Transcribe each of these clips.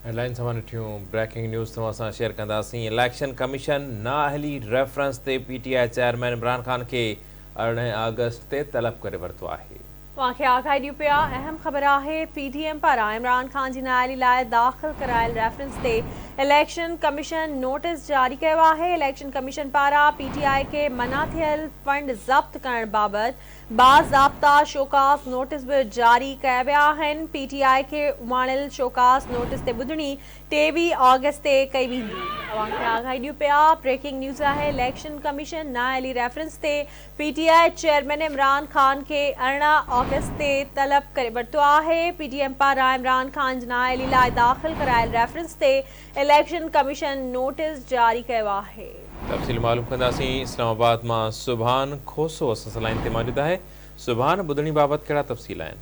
Headlines اوهان ڏٺيون، breaking news توهان سان شيئر ڪنداسين، اليڪشن ڪميشن نااهلي ريفرنس تي PTI chairman Imran Khan کي ارڙهن آگسٽ تي طلب ڪري ورتو آهي. اوهان کي آگاهي ڏيون پيا، اهم خبر آهي پي ڊي ايم پاران عمران خان جي نااهلي لاء داخل ڪرايل ريفرنس تي اليڪشن ڪميشن نوٽيس جاري ڪيو آهي، اليڪشن ڪميشن پاران پي ٽي آء کي منع ٿيل فنڊ ضبط ڪرڻ بابت باضابطا شوڪاز نوٽيس به جاري ڪيا ويا آهن، پي ٽي آء کي اماڻيل شوڪاز نوٽيس تي ٻڌڻي ٽيويهه آگسٽ تي ڪئي ويندي. بريڪنگ نيوز آهي اليڪشن ڪميشن نااهلي ريفرنس تي PTI chairman Imran Khan کي ارڙهن آگسٽ تي طلب ڪري ورتو آهي، پي ڊي ايم پاران عمران خان جي نااهلي لاء داخل ڪرايل ريفرنس تي اليڪشن ڪميشن نوٽيس جاري ڪيو آهي. تفصيل معلوم ڪنداسين اسلام آباد مان سبحان کوسو اسان سان لائين تي موجود آهي سبحان ٻڌڻي بابت ڪهڙا تفصيل آهن.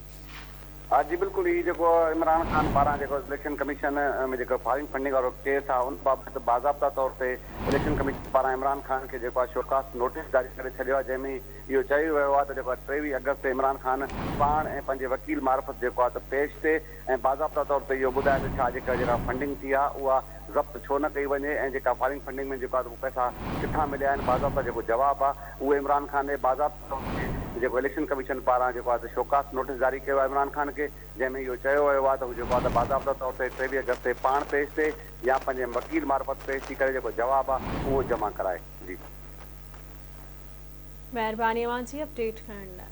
ها جي بلڪل هي جيڪو عمران خان پاران جيڪو اليڪشن ڪميشن ۾ جيڪو فارين فنڊنگ وارو ڪيس آ ان بابت باضابطا طور تي اليڪشن ڪميشن پاران عمران خان کي جيڪو آ شوڪاس نوٽيس جاري ڪري ڇڏيو آ جنهن ۾ اهو چيو ويو آ ته جيڪو آ ٽيويهه آگسٽ تي عمران خان پاڻ ۽ پنهنجي وڪيل معرفت جيڪو آ ته پيش تي ۽ باضابطا طور تي اهو ٻڌائي ته ڇا جيڪر جيڪا فنڊنگ ٿي آهي اها ضبط ڇو نه ڪئي وڃي ۽ جيڪا فارين فنڊنگ ۾ جيڪا اهي پئسا ڪٿان مليا آهن باضابطا جيڪو جواب آهي اهو عمران خان ڏي باضابطا طور تي جيڪو اليڪشن ڪميشن پاران جيڪو آهي ته شوڪاس نوٽيس جاري ڪيو آهي عمران خان کي جنهن ۾ اهو چيو ويو آهي ته هو جيڪو آهي ته باضابطا طور تي ٽيويهه اگست تي پاڻ پيش ٿي يا پنهنجي وڪيل معرفت پيش ٿي ڪري جيڪو جواب آهي اهو جمع ڪرائي جي. مهرباني اوهان جي اپڊيٽ ڪرڻ لاء.